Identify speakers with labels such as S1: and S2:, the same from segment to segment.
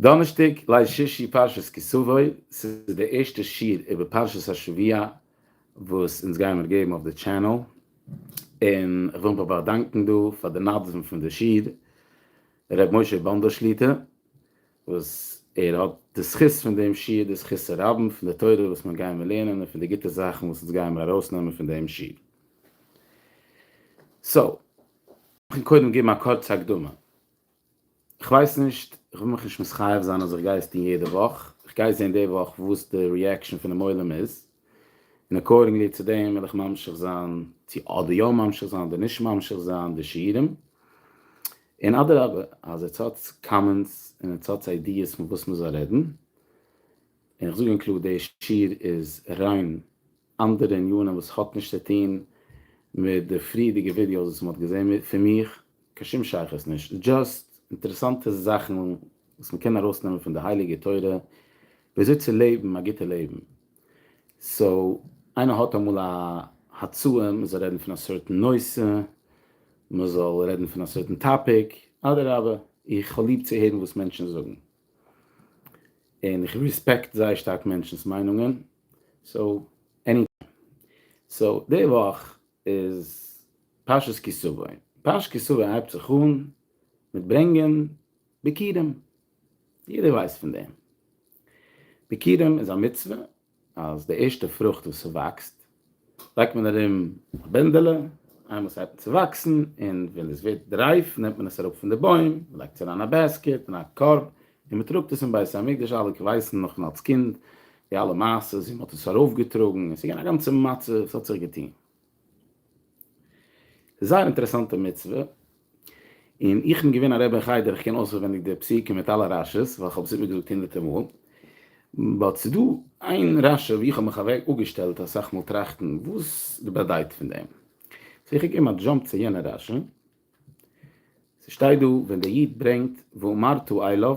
S1: דאנערשטאג ליל שישי פרשת כי תבוא, ס'איז די ערשטע שיעור איבער פרשת השבוע וואס אונז גיימער געבן אויף די טשענעל, און איך וויל מיך באדאנקן דא פאר די מתווים פון די שיעור, ר' משה באנדא שליט א, וואס ער האט די זכות פון דעם שיעור, די זכות הרבים פון די תורה וואס מיר גיימער לערנען און פון די גוטע זאכן וואס אונז גיימער ארויסנעמען פון דעם שיעור. סאו, קודם געבן א קורצע הקדמה. כ'ווייס נישט, כ'וויל מיך נישט מסכייף זיין אז כ'גיי עס טון יעדע וואך, כ'גיי זעהן די וואך וואס די ריעקשאן פונעם עולם איז, און אקארדינגלי צו דעם וועל איך ממשיך זיין צו אדער יא ממשיך זיין אדער נישט ממשיך זיין די שיעורים, און אדרבה אז עטס האטס קאמענטס און עטס האטס איידיעס פון וואס מ'זאל רעדן, און כ'זאג אונקלאר די שיעור איז ריין אנדערע עניינים וואס האט נישט צו טוהן מיט די פריערדיגע ווידיאוס וואס מען האט געזעהן פון מיך, קיין שום שייכות נישט, דזשאסט אינטערעסאנטע זאכן וואס מען קען ארויסנעמען פון די הייליגע תורה וויאזוי צו לעבן א גוטע לעבן, סאו איינער האט אמאל א הצעה מען זאל רעדן פון א סערטען נושא, מען זאל רעדן פון א סערטען טאפיק, אדרבה איך האב ליב צו הערן וואס מענטשן זאגן, און איך רעספעקט זייער שטארק מענטשן'ס מיינונגען, סאו עני טיים. סאו די וואך איז פרשת כי סבא. פרשת כי סבא הייבט זיך אן מיט ברענגען ביכורים. יעדער ווייסט פון דעם. ביכורים איז א מצוה אז די ערשטע פרוכט וואס ס'וואקסט. לייגט מען ארום א בענדעלע, איינמאל ס'הייבט אן צו וואקסן, און ווען עס ווערט רייף נעמט מען עס אראפ פון די בוים, מ'לייגט עס אריין א בעסקעט, אין א קארב, און מ'טראגט עס אין בית המקדש, אלע ווייסן נאך פון אלס קינד די אלע מעשות ווי מ'האט עס ארויפגעטראגן, עס איז געווען א גאנצע מצב, עס האט זיך געטון. זייער אינטערעסאנטע מצוה. און איך בין געווען א רבי אין חדר, איך קען אויסערווענדיג די פסוקים מיט אלע רשי ס, ווייל כ'האב עס איבערגעזאגט הונדערטער מאל, באט ס'איז דא איין רשי וואו איך האב מיך אוועק אפגעשטעלט אסאך מאל טראכטן וואס די באדייט פון דעם, סאו איך געב א דזשאמפ צו יענע רשי, ס'שטייט דא ווען דער איד ברענגט ואמרתו אליו,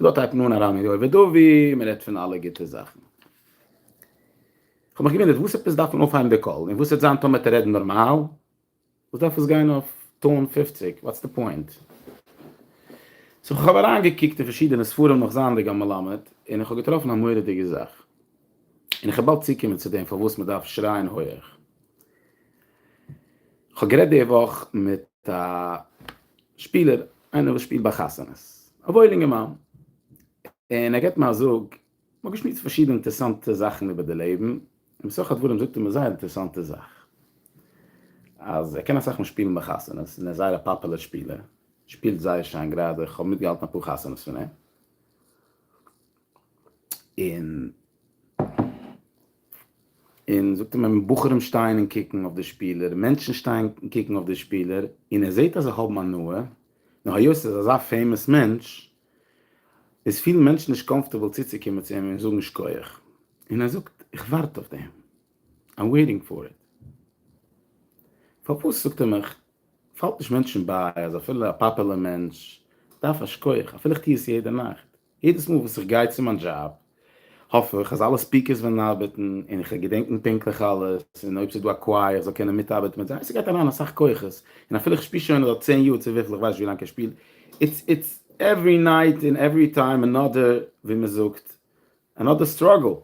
S1: לא תתנון הרע מרע ודובי, מען רעדט פון אלע גוטע זאכן. כ'האב מיך געוואונדערט וואס עפעס דארף מען אויפהייבן די קול, און וואס וועט זיין טאמער וועט ער רעדן נארמאל? וואס דארף עס גיין אויף טאון פֿופֿציק? וואטס די פוינט? סאו כ'האב אריינגעקוקט אין פארשידענע ספרים נאך זייענדיג א מלמד, און כ'האב געטראפן א מורא'דיגע זאך. און כ'וועל באלד צוקומען צו דעם פארוואס מען דארף שרייען הויעך. כ'האב גערעדט די וואך מיט א שפילער, איינער וואס שפילט ביי חתונות, א וואויל אינגערמאן, און ער געבט מיר א זאג, מ'האט געשמועסט פארשידענע אינטערעסאנטע זאכן איבער די לעבן, און בסך הדברים זאגט ער מיר זייער אינטערעסאנטע זאך, אז ער קען אסאך מאל שפילן ביי חתונות, און ער איז זייער א פאפולער שפילער, שפילט זייער שיין גראדע, כ'האב מיטגעהאלטן אפאר חתונות פון אים, און. און זאגט אים אז בחורים שטייען און קוקן אויף די שפילער, מענטשן שטייען און קוקן אויף די שפילער, און ער זעט אז זיי האבן הנאה, נאר היות ער איז אזא פעימאס מענטש, איז פילן מענטשן נישט קאמפארטעבל צוצוקומען צו אים און זאגן שקויעך, און ער זאגט, איך ווארט אויף דעם, איים וועיטינג פאר איט. פארוואס, זאגט ער מיך, פאלט נישט מענטשן ביי אז אפילו א פאפעלער מענטש דארף א שקויעך, אפילו איך טו עס יעדע נאכט? יעדעס מאל וואס איך גיי צו מיין דזשאב האף איך אז אלע ספיקערס וועלן ארבעטן און איך וועל געדענקן פונקטליך אלעס און אויב ס'איז דא א קווייער איך זאל קענען מיטארבעטן מיט זיי, ס'גייט אריין אסאך כוחות און אפילו איך שפיר שוין אט צען יאר צו וויפיל איך ווייס נישט ווי לאנג איך שפיל איטס איטס עווערי נייט און עווערי טיים אנאדער ווי מען זאגט אנאדער סטראגל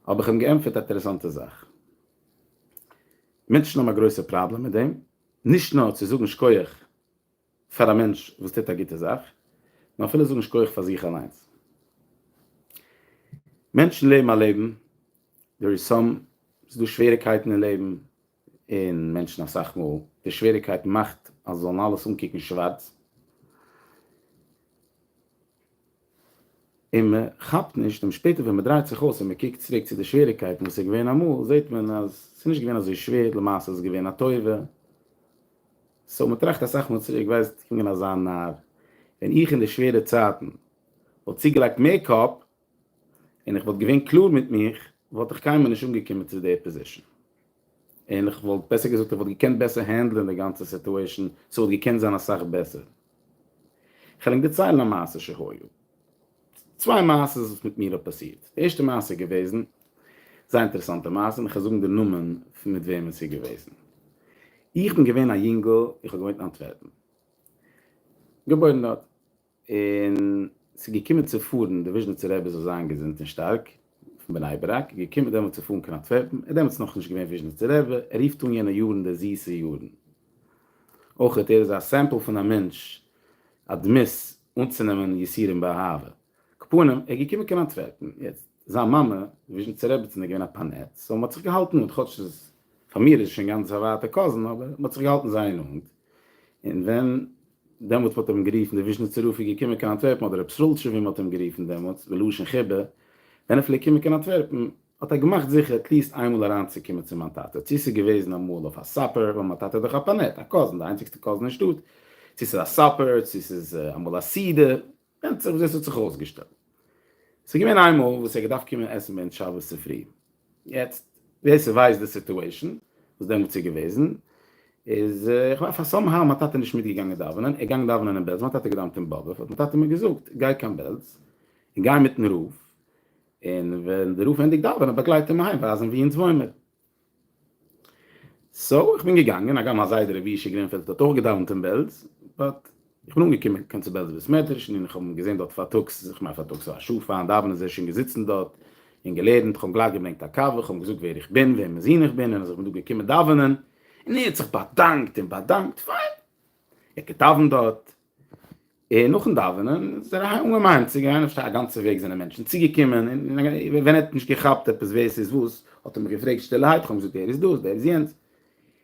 S1: האב איך אים געענטפערט א אינטערעסאנטע זאך מענטשן האבן א גרויסע פראבלעם מיט דעם נישט נאר צו זאגן שכוח. פאר א מענטש וואס טוט א גוטע זאך, און אפילו זאגן שכוח פאר זיך אליינס. מענטשן לעבן א לעבן, דער איז סאם, ס'איז דא שוועריקייטן אין לעבן, און מענטשן אסאך מאל, די שוועריקייט מאכט אז זיי זאלן אלעס אנקוקן שווארץ, און מען כאפט נישט, און שפעטער ווען מען דרייט זיך אויס און מען קוקט צוריק צו די שוועריגקייטן וואס איז געווען אמאל, זעט מען אז עס איז נישט געווען אזוי שווער, למעשה איז עס געווען א טובה. סאו מען טראכט אסאך מאל צוריק, ווייסט, איך בין אזא נאר, ווען איך אין די שווערע צייטן וואלט צוגעלייגט מער קאפ, און איך וואלט געווען קלאר מיט מיך, וואלט איך קיינמאל נישט אנגעקומען צו די פאזישן. און איך וואלט בעסער געזאגט איך וואלט געקענט בעסער הענדלען די גאנצע סיטועשן, ס'וואלט געקענט זיין אסאך בעסער. כ'על ענק דערציילן א מעשה שהיה. צוויי מעשה'ס וואס מיט מיר האט פאסירט. די ערשטע מעשה איז געוועזן, זייער אינטערעסאנטע מעשה, און כ'על זאגן די נאמען פון מיט וועמען ס'איז געוועזן. איך בין געווען א יונגל, איך האב געוואוינט אין אנטווערפן. געבוירן דארט. און ס'איז געקומען צו פארן די וויזשניצער רבי זאל זיין געזונט און שטארק, פון בני ברק, געקומען דעמאלט צו פארן קיין אנטווערפן, ער איז דעמאלטס נאכנישט געווען וויזשניצער רבי, ער רופט אן יענע יארן די זיסע יארן. אויך ער איז א סעמפל פון א מענטש, א דמות, אנצונעמען יסורים באהבה. קאפאנעם, ער איז געקומען קיין אנטווערפן, יעצט, זיין מאמע, די וויזשניצער רעבעצין איז געווען א פאנעט, סאו מ'האט זיך געהאלטן נאנט, כאטש ס'איז, פאר מיר איז עס שוין גאנץ א ווייטע קאזין, אבער מ'האט זיך געהאלטן זייער נאנט, און ווען דעמאלט האט אים גערופן דער וויזשניצער רב איז געקומען קיין אנטווערפן אדער רב סרולטשוב ווי מען האט אים גערופן דעמאלטס בלשון חיבה ווען ער פלעגט קומען קיין אנטווערפן האט ער געמאכט זיכער עטליעסט איינמאל אריינצוקומען צו מיין טאטע צו ס'איז געוועזן אמאל אויף א סאפער ווייל מיין טאטע איז דאך א פאנעט א קאזין די איינציגסטע קאזין אין שטאט צו ס'איז א סאפער צו ס'איז אמאל א סידור ווענדט זיך וויאזוי עס האט זיך אויסגעשטעלט. ס'איז געווען איינמאל וואס ער האט געדארפט קומען עסן ווען שבת צופרי. יעצט, ווער ס'ווייסט די סיטועשאן וואס דעמאלטס איז געוועזן, איז איך ווייס אז סאם האו מיין טאטע איז נישט מיטגעגאנגען דאווענען, ער איז געגאנגען דאווענען אין בעלז, מיין טאטע האט געדאווענט אין באבוב, האט מיין טאטע מיר געזאגט, גיי קיין בעלז, און גיי מיטן רב, און ווען דער רב ענדיגט דאווענען באגלייט אים אהיים ווייזן וואו אונז וואוינמער. סאו איך בין געגאנגען, הגם א זיידע ר' אבישי גרינפעלד האט אויך געדאווענט אין בעלז, באט איך בין אנגעקומען קיין צו בעלזער בית מדרש און איך האב אים געזען דארט פארטאגס, איך מיין פארטאגס א שעה פארן דאווענען איז ער שוין געזיצן דארט און געלערנט, איך האב אים גלייך געברענגט א קאווע, איך האב אים געזאגט ווער איך בין, וועמענס זון איך בין און אז איך בין דא געקומען דאווענען, און ער האט זיך באדאנקט און באדאנקט, פיין, ער האט געדאווענט דארט, און נאכן דאווענען איז ער אהיים אנגעמיינען צו גיין, איך פארשטיי א גאנצע וועג זענען מענטשן צוגעקומען, און ווען ער האט נישט געכאפט עפעס ווער ס'איז וואס, האט ער מיך געפרעגט שטילערהייט, איך האב אים געזאגט דער איז דאס, דער איז יענץ,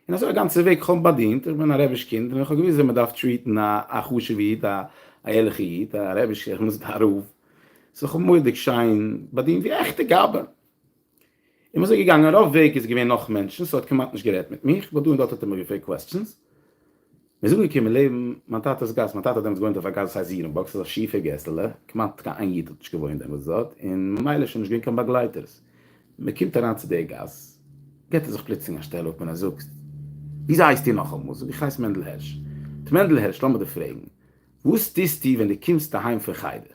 S1: און אזוי א גאנצע וועג, איך האב אים באדינט, איך בין א רבי'ש קינד, און איך האב געוואוסט ווי מען דארף טריעטן א חשוב'ע איד, א ערליכע איד, א רבי'שע, איך בין דאס גאר רב, ס'איז זיך מורא'דיג שיין באדינט ווי א עכטע גאבד. און מ'איז געגאנגען, רוב וועג איז געווען נאך מענטשן, ס'האט כמעט נישט גערעדט מיט מיך, ווייל דא און דארט האט ער מיר געפרעגט קוועסטשענס. מ'איז אנגעקומען לעבן מיין טאטע'ס גאס, מיין טאטע האט דעמאלטס געוואוינט אויף א גאס וואס הייסט זירענבאק, ס'איז א שיפע געסעלע, כמעט קיין איין איד האט נישט געוואוינט דעמאלטס דארט, און ממילא איז שוין נישט געווען קיין באגלייטערס. מ'קומט אריין צו די גאס, געט ער זיך פלוצלינג א שטעל אפ און ער זאגט, וויאזוי הייסט איר נאכאמאל? זאג איך, כ'הייס מענדל הערש. ט'מענדל הערש, לאמיר דיר פרעגן, וואס טוסטו ווען דו קומסט אהיים פון חדר?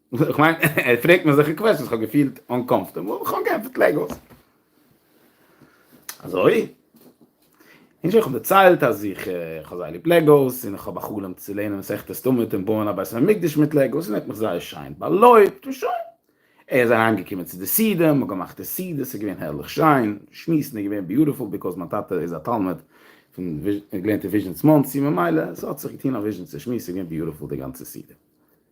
S1: איך מיין, ער פרעגט מיר אזעלכע קוועסטשענס, כ'האב געפילט אנקאמפארטעבל, און כ'האב געענטפערט לייג אויס. אזוי? נישט איך האב דערציילט אז איך האב זייער ליב לעגאוס, און איך האב א חלום צו לערנען מסכת סתומעט און בויען א בית המקדש מיט לעגאוס, און ער האט מיך זייער שיין באלויבט, און שוין. ער איז אריינגעקומען צו די סעודה, מ'האט געמאכט די סעודה, ס'איז געווען הערליך שיין, שמועסן איז געווען ביוטיפול, ביקאוז מיין טאטע איז א תלמיד פון וויז, ער האט געלערנט אין וויזשניץ מאנסי, ממילא ס'האט זיך געטון א וויזשניצער שמועס, ס'איז געווען ביוטיפול די גאנצע סעודה.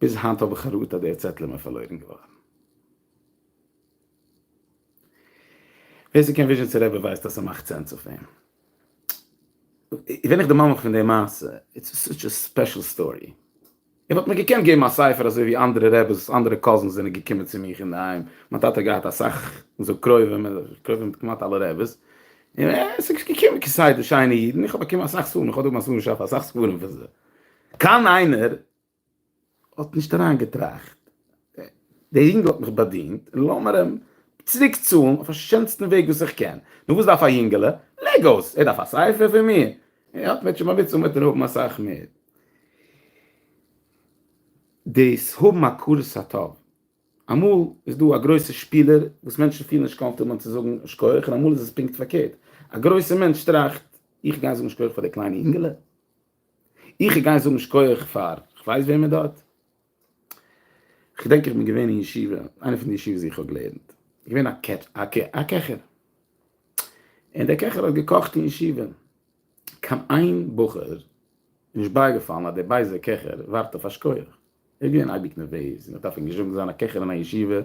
S1: ביז היינט האב איך א ראטע אז דער צעטל איז מיר פארלוירן געווארן. ווער ס'קען וויזשניצער רבי ווייסט אז ס'מאכט סענס אויף אים. בין איך די ממח פון די מעשה? איטס סאטש א ספעשל סטארי. ער וואלט מיר געקענט געבן א ספר אזוי ווי אנדערע רעבעס, אנדערע קאזינס זענען געקומען צו מיך אינדערהיים, מיין טאטע האט געהאט אסאך זאג קרובים, ער איז קרוב מיט כמעט אלע רעבעס, און עס איז געקומען כסדר שיינע אידן, איך האב באקומען אסאך ספרים, איך האב דא ביי מסלול שפע אסאך ספרים פון זיי. קיין איינער האט נישט אריינגעטראכט, דער אינגל האט מיך באדינט, לאמיר אים צוריק צאלן אויף א שענסטן וועג וואס איך קען. נו וואס דארף א יונגעלע? לעגאוס! ער דארף א ספר פון מיר? ער האט מיט שמאוויטץ און וועט ער האבן אסאך מער. דאס האבן הכרת הטוב, אמאל איז דא א גרויסער שפילער וואס מענטשן פילן נישט קאמפארטעבל אים צו זאגן שכח, און אמאל איז עס פונקט פארקערט, א גרויסער מענטש טראכט, איך גיי זאגן שכח פאר דער קליינער יונגעלע? איך גיי זאגן שכוח פאר כ'ווייס וועמען דארט. כ'דענק איך בין געווען אין ישיבה, איינע פון די ישיבות ווי כ'האב געלערנט, געווען א קעטש א קע א קעכער, און דער קעכער האט געקאכט אין ישיבה, קיין איין בחור איז נישט בייגעפאלן אז דער בייזער קעכער ווארט אויף א שכוח, ער איז געווען אייביג נערוועז, און ער דארף אנגעזשעמט זיין א קעכער אין א ישיבה,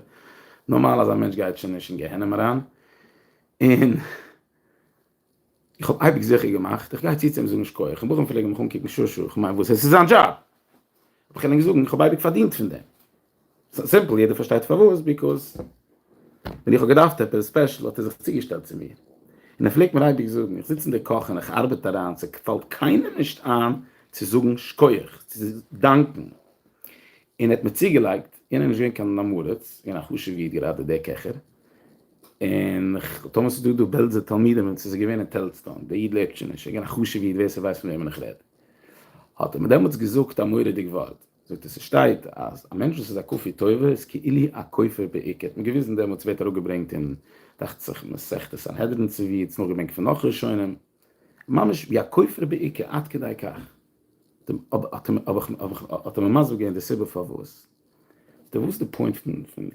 S1: נארמאל אזא מענטש גייט שוין נישט אין גיהנום אריין, און. איך האב אייביג זיכער געמאכט איך גיי צו צו אים זאגן שקויעך און בחורים פלעגן מיך אנקוקן שא שא, כ'מיין וואס עס איז זיין דזשאב, האב איך ענק זאגן איך האב אייביג פארדינט פון דעם, סא סימפל יעדער פארשטייט פארוואס ביקאז ווען איך האב געדארפט עפעס ספעשל האט ער זיך צוגעשטעלט צו מיר, און ער פלעגט מיר אייביג זאגן איך זיץ אין די קאך און איך ארבעט אריין ס'פאלט קיינעם נישט איין צו זאגן שקויעך צו דאנקן, און ער האט מיר צוגעלייגט יענער איז נישט געווען קיין אמאראץ געווען א חשוב'ע איד גראדע דער קעכער. און טאמער ס'איז דא דא בעלזער תלמידים און ס'איז געווען אין טעלזסטאן, דער איד לעבט שוין נישט, ער געווען א חשוב'ע איד ווער ס'ווייסט פון וועמען איך רעד, האט ער מיר דעמאלטס געזאגט א מורא'דיג ווארט, זאגט ער ס'שטייט אז א מענטש וואס איז א כפוי טובה איז כאילו א כופר בעיקר, האט מיר געוויזן דעמאלטס ווערט אראפגעברענגט אין דאכט זיך מסכת סנהדרין צו ווי, צו נאך געברענגט פון נאך ראשונים, ממש ווי א כופר בעיקר, עד כדי כך, האט ער מיר מסביר געווען די סיבה פארוואס. די וואס די פוינט פון פון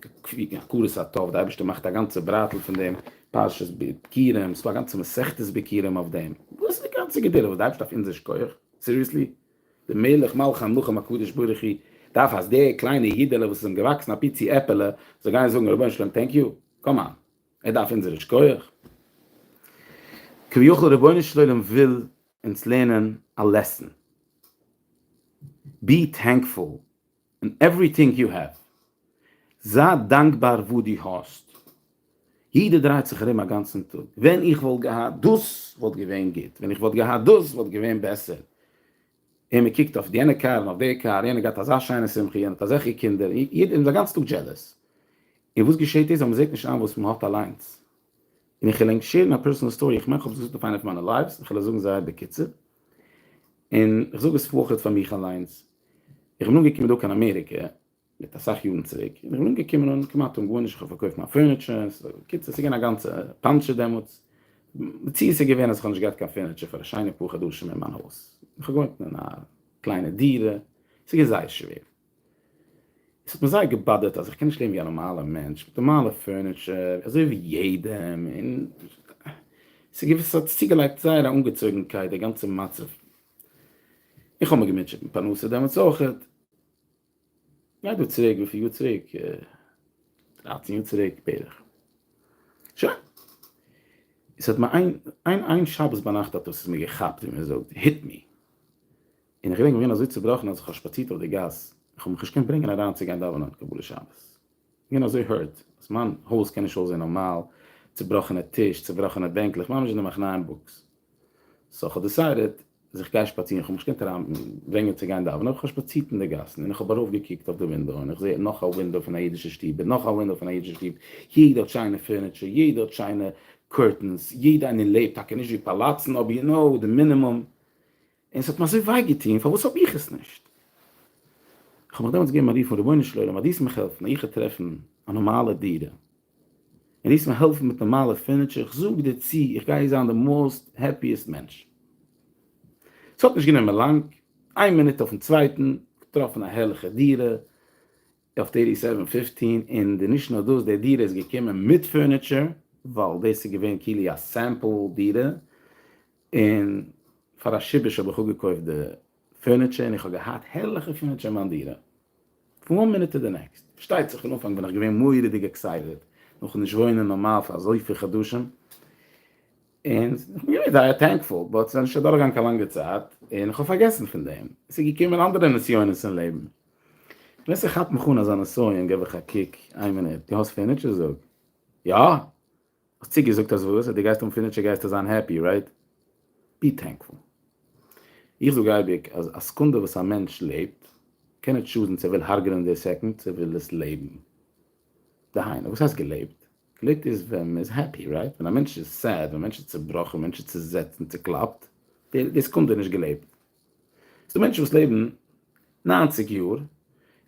S1: הכרת הטוב די אייבערשטער מאכט א גאנצע בראטל פון דעם פרשת בקירים ס'איז דא א גאנצע מסכת בקירים אויף דעם וואס איז די גאנצע גדולה וואס די אייבערשטער דארף אונזער שכוח סיריעסלי די מלך מלכי המלכים הקדוש ברוך הוא דארף אז דער קליינע אידעלע וואס איז אים געוואקסן א פיצי עפעלע זאל גיין זאגן רבונו של עולם טענק יו קאם אן ער דארף אונזער שכוח כביכול רבונו של עולם וויל אונז לערנען א לעסן בי טענקפול און עווריטינג יו העוו. זיי דאנקבאר וואס דו האסט. יעדער דרייט זיך ארום א גאנצן טאג, ווען איך וואלט געהאט דאס וואלט געווען גוט, ווען איך וואלט געהאט דאס וואלט געווען בעסער, און מען קוקט אויף יענע קאר און אויף די קאר, יענער גייט אזא שיינע שמחה, יענער האט אזעלכע קינדער, יעדער איז א גאנץ טאג דזשעלעס. און וואס געשעט איז אז מען זעט נישט איין וואס מען האט אליינס. און איך עלענג שעירן א פערסאנעל סטארי, איך מיין איך האב עס געזאגט אויף איינע פון מיינע לייווס, איך עלענג זאגן זייער בקיצור, און איך זאג עס פאחד פאר מיך אליינס, איך בין אנגעקומען דא קיין אמעריקע מיט אסאך יארן צוריק, און איך בין אנגעקומען און כמעט אן גארנישט, איך האב פארקויפט מיין פורניטשער, בקיצור ס'איז געווען א גאנצע פאנטשע דעמאלטס, מציאות איז געווען אז איך האב נישט געהאט קיין פורניטשער פאר א שיינע פאר חדשים אין מיין הויז, איך האב געוואוינט אין א קליינע דירה, ס'איז געווען זייער שווער, עס האט מיר זייער געבאדערט אז איך קען נישט לעבן ווי א נארמאלע מענטש, מיט נארמאלע פורניטשער אזוי ווי יעדעם, און ס'איז געווען, ס'האט צוגעלייגט זייער א אנגעצויגנקייט די גאנצע מצב, איך האב מיר געמוטשעט מיט פרנסה דעמאלטס אויך, גייט דא צוריק וויפיל יאר צוריק, דרייצן יאר צוריק בערך, שוין, עס האט מיר איין איין איין שבת ביינאכט האט עס מיר געכאפט ווי מען זאגט, היט מי, און איך געדענק איך בין געווען אזוי צובראכן אז איך האב שפאצירט אויף די גאס, איך האב מיך נישט געקענט ברענגען אריין צו גיין דאווענען קבלת שבת. איך בין אזוי hurt אז מיין הויז קען נישט אויסזען נארמאל, צובראכענע טיש, צובראכענע בענקלעך, ממש אין די מחנה אין בוקס. סאו כ'האב דיסיידעד אז איך גיי שפאצירן, כ'האב מיך נישט געקענט אריינברענגען צו גיין דאווענען, אבער כ'האב שפאצירט אין די גאסן און כ'האב ארויפגעקוקט אויף די ווינדאו און איך זע נאך א ווינדאו פון א אידישע שטוב און נאך א ווינדאו פון א אידישע שטוב, יעדע האט שיינע פורניטשער, יעדע האט שיינע קורטענס, יעדע איינער לעבט, טאקע נישט ווי פאלאצן אבער יו נאו, די מינימום. און עס האט מיר אזוי וויי געטון, פארוואס האב איך עס נישט? איך האב מיך דעמאלטס געגעבן א רוף אן, רבונו של עולם, אז דו עסט מיך העלפן איך זאל טרעפן א נארמאלע דירה, און דו עסט מיר העלפן מיט נארמאלע פורניטשער, איך זאג דיר צו, איך גיי זיין די מאוסט העפיעסט מענטש. עס האט נישט גענומען לאנג, איין מינוט אויפן צווייטן, געטראפן א הערליכע דירה אויף טערטי סעווען פיפטין, און די נישט נאר דאס, די דירה איז געקומען מיט פורניטשער, ווייל דאס איז געווען כאילו א סעמפל דירה, און פאר א שיבוש האב איך אפגעקויפט די פורניטשער און איך האב געהאט הערליכע פורניטשער אין מיין דירה פון וואן מינוט טו די נעקסט. פארשטייט זיך אין אנפאנג בין איך געווען מורא'דיג עקסייטעד נאכן נישט וואוינען נארמאל פאר אזויפיל חדשים, און איך בין געווען זייער טענקפול, באט ס'איז נישט אדורכגעגאנגען קיין לאנגע צייט און איך האב פארגעסן פון דעם, עס איז געקומען אנדערע נסיונות אין לעבן. ווען ס'כאפט מיך אן אזא נסיון גיב איך א קוק, איין מינוט, דו האסט פורניטשער? זאג. יא! האסט צוגעזאגט אז וואס? אז דו גייסט האבן פורניטשער גייסטו זיין העפי, רייט? בי טענקפול. איך זאג אייביג אז א סעקונדע וואס א מענטש לעבט קען נישט שאדן צו ער וויל הרג'נען די סעקונד צו ער וויל עס לעבן. דהיינו, וואס הייסט געלעבט? געלעבט איז ווען מען איז העפי, רייט? ווען א מענטש איז סעד, ווען א מענטש איז צעבראכן, ווען א מענטש איז צעזעצט און צעקלאפט, די סעקונדע איז נישט געלעבט. ס'דא מענטשן וואס לעבן נײַנציק יאר,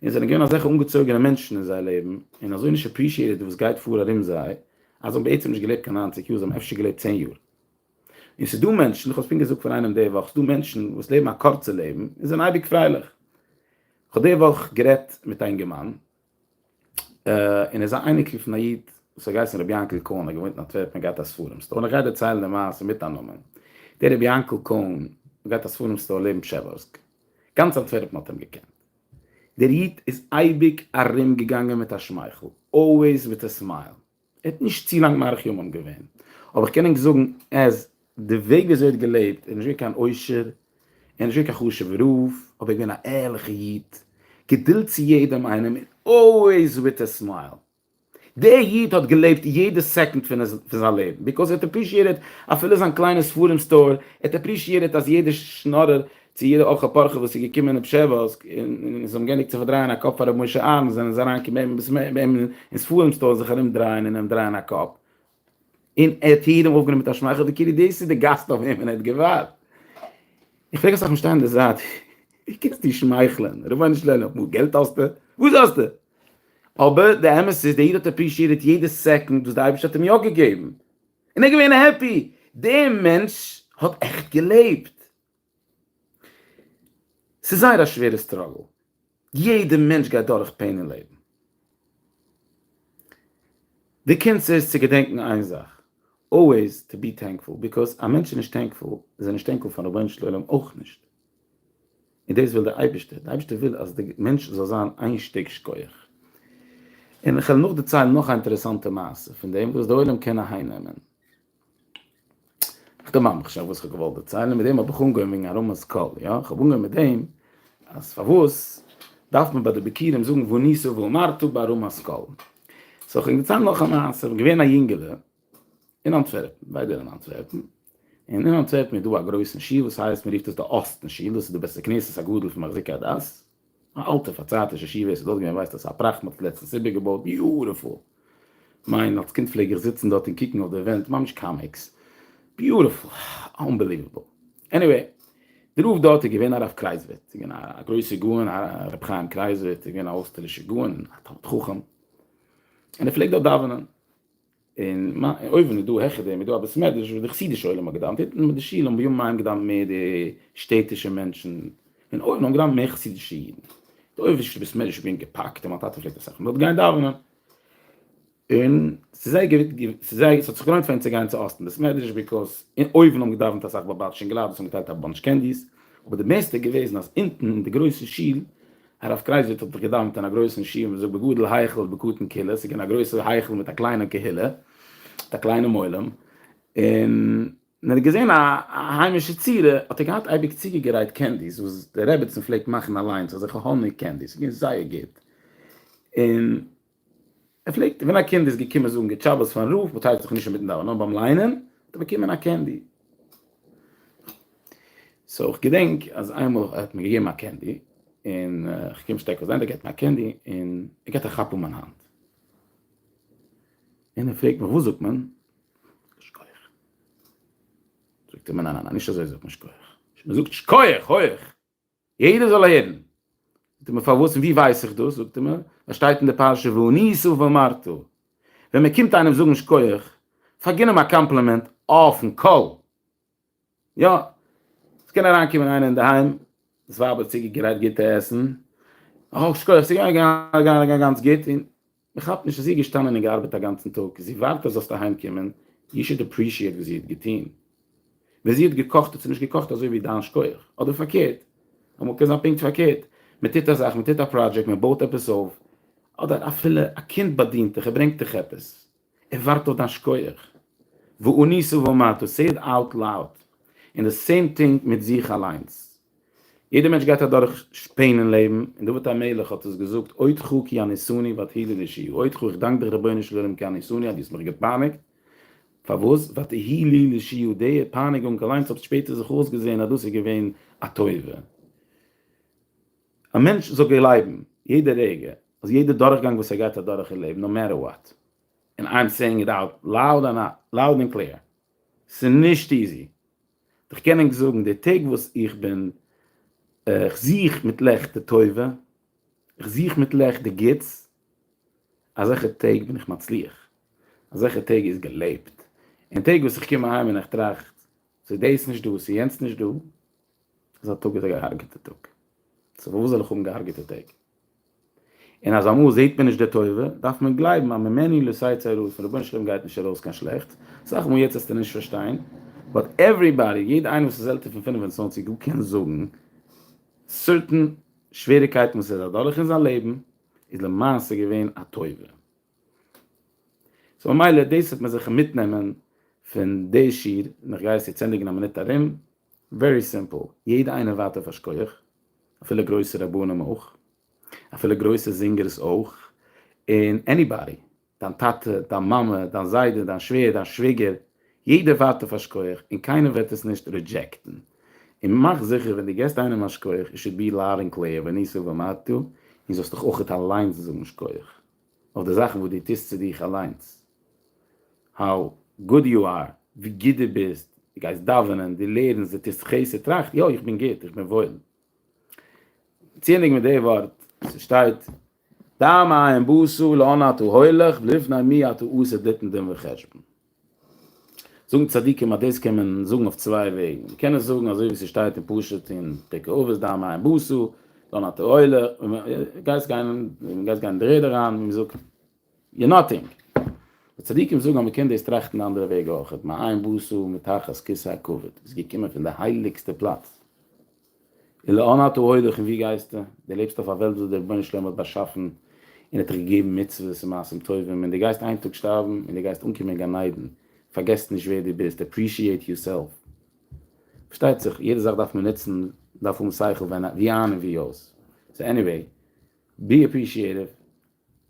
S1: און זענען געווען אזעלכע אנגעצויגענע מענטשן אין זייער לעבן, און אזוי נישט עפרישיעטעד וואס גייט פאר ארום זיי, אז זיי האבן בעצם נישט געלעבט קיין נײַנציק יאר, זיי האבן אפשר געלעבט צען יאר. און ס'דא מענטשן, איך האב עס פונקט געזאגט פאר איינעם די וואך, ס'דא מענטשן וואס לעבן א קורצע לעבן, און זענען אייביג פרייליך. כ'האב די וואך גערעדט מיט א אינגערמאן, און ער איז א אייניקל פון א איד וואס האט געהייסן רבי יענקל קאהן, ער האט געוואוינט אין אנטווערפן און געהאט א ספרים סטאר, און איך גיי דערציילן די מעשה מיט א נאמען, דער רבי יענקל קאהן האט געהאט א ספרים סטאר לעבן פשעווארסק, גאנץ אנטווערפן האט אים געקענט, דער איד איז אייביג ארום געגאנגען מיט א שמייכל, אלוועיס וויט ע סמייל, ער האט נישט צו לאנג מאריך ימים געווען, אבער כ'קען ענק זאגן אז די וועג וויאזוי ער האט געלעבט, ער איז נישט געווען קיין עושר, ער איז נישט געווען קיין חשוב'ער רב, אבער ער איז געווען א ערליכע איד, געדולד צו יעדעם איינעם, און אלוועיס וויט א סמייל. דער איד האט געלעבט יעדע סעקונד פון זיין לעבן, ביקאוז ער האט עפרישיעטעד אפילו זיין קליינע ספרים סטאר, ער האט עפרישיעטעד אז יעדער שנארער צו יעדע אורחא פורחא וואס איז געקומען אין פשעווארסק און זיי האבן גענדיגט צו פארדרייען א קאפ פאר רבי משה אהרן זענען זיי אריין קומען ביים ביסמער ביים אין ספרים סטאר זיך ארום דרייען און אים דרייען א קאפ און ער האט יעדעם אויפגענומען מיט א שמייכל ווי כאילו דאס איז די גאסט אויף וועמען ער האט געווארט. איך פרעג אסאך משתיינים די זייט ווי קענסטו שמייכלען רבונו של עולם אפילו געלט האסטו? וואס האסטו? אבער די אמת איז די איד האט עפרישיעטעד יעדע סעקאנד וואס די אייבערשטער האט אים יא געגעבן און ער איז געווען העפי, דער מענטש האט עכט געלעבט. ס'איז זייער א שווערע סטראגל, יעדע מענטש גייט דורך פעין אין לעבן, די קונץ איז צו געדענקן איין זאך, אלוועיס טו בי טענקפול, ביקאוז א מענטש איז נישט טענקפול איז ער נישט טענקפול פארן רבונו של עולם אויך נישט, און דאס וויל די אייבערשטער, די אייבערשטער וויל אז די מענטש זאל זיין איין שטיק שכוח. און כ'וועל נאכדערציילן נאך א אינטערעסאנטע מעשה פון דעם וואס די עולם קען אהיימנעמען. איך דערמאן מיך שוין וואס איך האב געוואלט דערציילן, מיט דעם האב איך אנגעהויבן וועגן הרמות קל, יא, איך האב אנגעהויבן מיט דעם אז פארוואס דארף מען ביי די ביקירים זאגן וניסו ואמרתו ביי הרמות קל. סאו איך בין געציילט נאך א מעשה, געווען א יונגעלע אין אנטווערפן, ביידע אין אנטווערפן, און אין אנטווערפן איז דא א גרויסן שיל וואס הייסט, מען רופט עס די אסטן שיל, דאס איז די בית הכנסת הגדול פון מחזיקי הדת, א אלטע פארצייטישע ישיבה, עס איז דארט געווען ווייסט וואסא פראכט, מען האט עס לעצטנס איבערגעבויט, ביוטיפול! כ'מיין אלס קינד פלעג איך זיצן דארט און קוקן אויף די ווענט, ממש קאמיקס, ביוטיפול! אנבעליוועבל! עניוועי, דער רב דארט איז געווען הרב קרייזווירט, איז געווען א גרויסער גאון, הרב חיים קרייזווירט, איז געווען א אויסטערלישער גאון, א תלמיד חכם, און ער פלעגט דארט דאווענען, און אויבן איז דא העכער דעם איז דא א בית מדרש וואס די חסידישע עולם האט געדאווענט אונטן מיט די שול האבן בימים ההם געדאווענט מער די שטעטישע מענטשן און אויבן האבן געדאווענט מער חסידישע אידן די אויבערשטע בית מדרש איז געווען געפאקט און מיין טאטע פלעגט אסאך דארט גיין דאווענען און ס'איז זייער געווען ס'איז זייער ס'האט זיך געלוינט פאר אים צו גיין צו אסטן בית מדרש ביקאז און אויבן האבן געדאווענט אסאך באבאטשע אינגעלייט וואס האבן געטיילט א באנטש קענדיס אבער די בעסטע איז געוועזן אז אונטן אין די גרויסע שול הרב קרייז זי ע האט געדאווענט אין א גרויסן שול, מען זאגט בגודל היכל ובקטן קהילה, ס'איז געווען א גרויסער היכל מיט א קליינע קהילה, מיט א קליינעם עולם, און ווען ער האט געזען א היימישע צורה האט ער געהאט אייביג צוגעגערייט קענדיס וואס די רעבעצן פלעגט מאכן אליינס אזעלכע האניג קענדיס, ס'איז געווען זייער גוט, און. ער פלעגט ווען א קינד איז געקומען זאגן גוט שבת פארן רב, באטייליגט זיך נישט אינמיטן דאווענען נאר ביים ליינען, האט ער באקומען א קענדי. סאו איך געדענק אז איינמאל ער האט מיר געגעבן א קענדי, און איך קום שטעקל זיין, ער געבט מיר א קענדי, און ער געבט א כאפ אן מיין האנט. און ער פרעגט מיך וואס זאגט מען? זאגט ער מיר ניין ניין נישט אזוי זאגט מען שכוח. מען זאגט שכוח הויעך. יעדער זאל הערן. זאגט ער מיר, פארוואס און ווי ווייס איך דאס? זאגט ער מיר, עס שטייט אין די פרשה ואני אסוף ואמרתו. ווען מען קומט איינעם זאגן שכוח, פאר גין אים א קאמפלימענט אויפן קול. יא, עס קען אריינקומען איינער אינדערהיים, דאס ווייב האט צוגעגרייט גוטע עסן, אה, שכוח, ס'איז געגאנגען גאנץ גוט, און מען כאפט נישט אז זי איז געשטאנען און געארבעט א גאנצן טאג, זי ווארט אז זאלסט אהיים קומען, יו שוד אפרישיעט וואס זי האט געטון, ווען זי האט געקאכט האט זי נישט געקאכט אזוי ווי דיין שכוח, אדער פארקערט, אמאל קען זיין פונקט פארקערט, מען טוט א זאך, מען טוט א פראדזשעקט, מען בויט עפעס אויף, אדער אפילו א קינד באדינט דיך, ער ברענגט דיך עפעס, ער ווארט אויף דיין שכוח, ואני סוב ומטה, סעי איט אוט לאוד, און די סעים טינג מיט זיך אליינס. יעדער מענטש גייט אדורך שפען אין לעבן, און דוד המלך האט עס געזאגט, אודך הוא כי עניסוני ותהי לי לישועה, אודך הוא, איך דאנק דיך רבונו של עולם כי עניסוני אז דו האסט מיך געפייניגט, פארוואס? ותהי לי לישועה, די פייניגונג אליינס האט שפעטער זיך אויסגעזען אז דאס איז געווען א טובה. א מענטש זאל גלייבן יעדע רגע אז יעדע דורכגאנג וואס ער גייט אדורך אין לעבן, נאו מעטער וואט, און איי עם סעיאינג איט אוט לאוד און קלעיר, ס'איז נישט איזי, איך קען ענק זאגן די טעג וואס איך בין איך זוך מיט לעכט די טובה, איך זוך מיט לעכט די גוטס, אזעלכע טעג בין איך מצליח, אזעלכע טעג איז געלעבט, און טעג וואס איך קום אהיים און איך טראכט ס'איז דאס נישט דא, ס'איז יענץ נישט דא, אזא טאג איז א געהארגעטע טאג, סאו פארוואס זאל איך האבן געהארגעטע טעג? און אז אמאל זעהט מען נישט די טובה, דארף מען גלייבן אז ממני לא תצא צרה, פון רבונו של עולם גייט נישט ארויס קיין שלעכטס, אסאך מאל יעצט וועסטו נישט פארשטיין, באט עוועריבאדי, יעדע איינער וואס איז עלטער פון פֿינף און צוואַנציק גאר קען זאגן, סערטען שוועריקייטן וואס ער איז אדורך אין זיין לעבן, איז למעשה געווען א טובה. סאו ממילא דאס וועט מען זיך מיטנעמען פון די שיעור, און איך גיי עס יעצט ענדיגן א מינוט ארום. ווערי סימפל, יעדע איינער ווארט אויף א שקויעך, אפילו גרויסע רבנים אויך, אפילו גרויסע זינגערס אויך, און עניבאדי, דיין טאטע, דיין מאמע, דיין זיידע, דיין שווער, דיין שוויגער, יעדער ווארט אויף א שקויעך און קיינער וועט עס נישט רידזשעקטן, און מאך זיכער ווען דו געסט איינעם א שקויעך איט שוד בי לאוד ענד קלעיר וניסו ומעתו, און זאלסט דיך אויך אליינס זאגן שקויעך. אויף די זאכן וואס דו טוסט צו דיך אליינס, האו גוד יו אר, ווי גוט דו ביסט, דו גייסט דאווענען, דו לערנסט, דו טוסט חסד, טראכט, יא, איך בין גוט, איך בין וואויל. ציענדיג מיט די ווארט, עס שטייט, דע מ ע י ם בו ס ו לאן אתה הולך ולפני מי אתה עושה דתן דין וחשבון. זאגן צדיקים אז דאס קען מען זאגן אויף צוויי וועגן, מען קען עס זאגן אזוי ווי ס'שטייט אין פשט אין פרק אבות ד' א מים בוסו, דאן א תועלה, גייסט גיין און גייסט גיין אין די רעדע אריין ווי מ'זאגט יו נאטינג. די צדיקים זאגן אז מ'קען דאס טראכטן די אנדערע וועג אויך, מים בוסו מתחת כסא הכבוד, איז געקומען פון די הייליגסטע פלאץ, און לאן אתה הולך און וואו גייסטו? דו לעבסט אויף א וועלט וואס דער רבונו של עולם האט באשאפן און האט דיך געגעבן מצוות און מעשים טובים, און דו גייסט איין טאג שטארבן און דו גייסט אנקומען אין גן עדן, פארגעס נישט ווער דו ביסט, אפרישיעט יור סעלף. פארשטייט זיך יעדע זאך דארף מען נוצן, דארף האבן שכל ווען א, ווי איין און ווי אויס. סאו עניוועי, בי אפרישיעטיוו,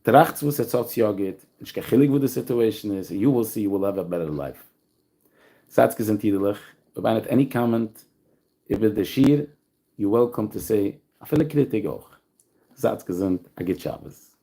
S1: טראכטס וואס עטס האטס יא גוט, נישט קיין חילוק וואס די סיטועשן איז, און יו וויל סי יו וויל העוו א בעטער לייף. זייטס געזונט אידעלעך, אויב איינער האט עני קאמענט איבער די שיעור, יו וועלקאם טו סעי, אפילו קריטיג אויך. זייטס געזונט, א גוט שבת.